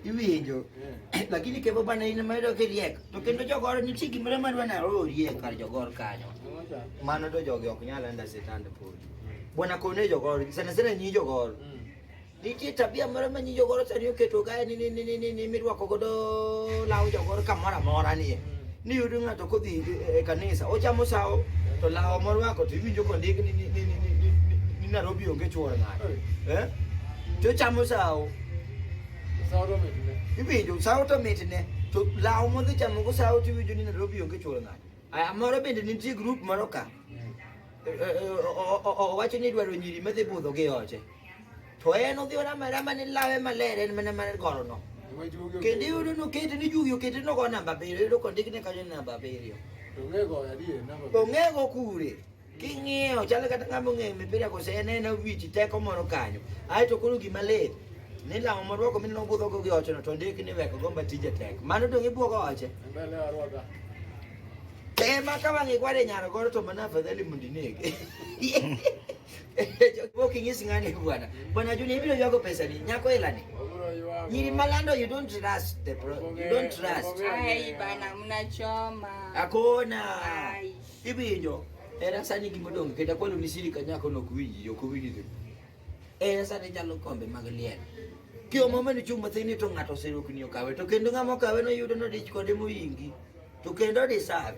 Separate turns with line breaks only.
Iwinjo. Lakini kepo bana ina maero ke riek. To kendo jogoro ni chiki mara marwa na ro riek kar jogoro kanyo. Mano to jogi ok nyal anda sitan podi. Bwana kone jogoro, sana sana nyi jogoro. Nitie tabia moro ma nyi jogoro sani oketo kae ni ni ni ni ni mirwako godo law jogoro kamoro amora ni. Ni yudo ng'ato kodhi e kanisa, ochamo sawo to lawo morwako to iwinjo kondik ni ni ni ni Nairobi onge chuor ng'ato. Eh? To ochamo sawo. Sawo to mitne. Iwinjo sawo to mitne. To lawo modhi chamo go sawo to iwinjo ni Nairobi onge chuor ng'ato. Aya moro bende nitie grup moro ka. Owacho ni idwaro nyiri madhi budho gi oche. To en odhi orama arama ni lawe maler en mana mar gorono. Kendo iyudo ni okete ni jugi okete ni ogo namba abiriyo, iyudo ka ondik ni kanyo ni namba abiriyo. Ong'ego kure? King'iyo chalo kata ng'ama ong'eyo mipira kose en en awich teko moro kanyo. Aeto koro gima lit ni lamo morwako mineno obudhogo gi ochono to ondik ni weko gomba tije tek. Mano dong' ibwogo oche. Ema ka wang'i kware nyaro goro to mana afadhali mondo inege. Boki nyisi ngani bwana. Bwana Juni hivi ndio pesa ni nyako hela ni. Nyiri malando you don't trust the bro. You don't trust. Ai bana
mnachoma. Hakuna.
Hivi ndio. Era sani kimodong kenda kwalo ni sili kanyako no kuwiji yo kuwiji. Era sani jalo kombe magalian. Kio mama ni chuma thini to ngato sero kunyo kawe to kendo ngamo kawe no yudo no dich kode moyingi. To kendo disave.